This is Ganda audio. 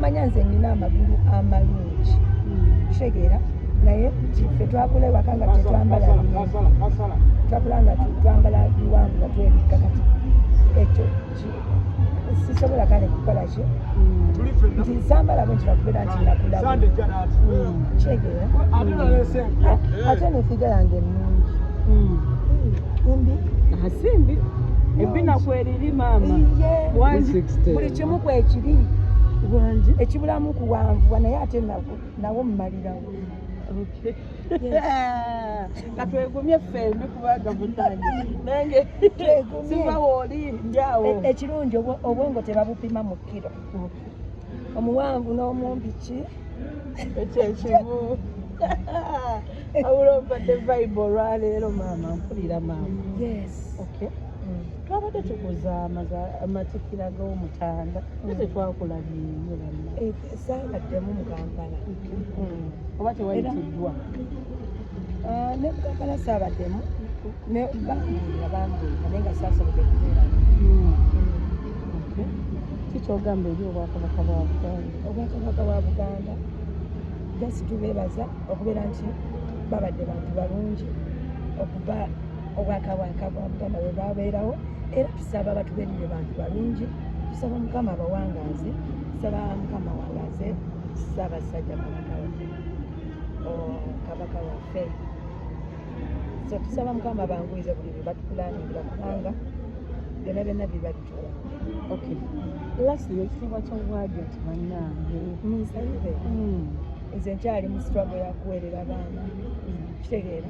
manya nze nina amagulu amalungi kitegeera naye fe twakula ewaka nga tetwambala twakula nga twambala biwanvu nga twebikka kati ekyo sisobola kale kukola ki nti nsambala bwe ntibakubeera nti nakulaba kitegeera ate nefiga yange ennungi hmm. mbi asimbi ebinaku eriri maama kimu kwekiri wangi ekibulamu kuwanvuwa naye ate nawo mumalirawo katwegumye ffembi kubanga munange nange sivawo oli ndyawo e, ekirungi obwongo tebabupima mu kiro omuwanvu n'omumbi ki ekyo ekimu awula obadde vibe olwaleero maama mpulira maama yes okay mm. twabadde tukuza amatikira g'omutanda naye tetwakulabyeyo saabaddemu mu kampala oba tewayitiddwa ne mu kampala saabaddemu ne bambuulira bambuulira naye nga saasobodde kubeera kikyogamba eri obwakabaka bwa buganda obwakabaka bwa buganda just tubeebaza okubeera nti babadde bantu balungi okuba obwakabaka bwa mukama bwe bwabeerawo era tusaba batubeerire bantu balungi tusaba mukama abawangaaze tusaba mukama wangaaze ssaabasajja kabaka kabaka waffe so tusaba mukama banguize buli bye batukulaniira kubanga byona byona biba bitola okay last year ekitiibwa ky'obwagi nti bannange minsayire hmm. nze nkyali mu struggle ya kuweerera baana hmm. kitegeera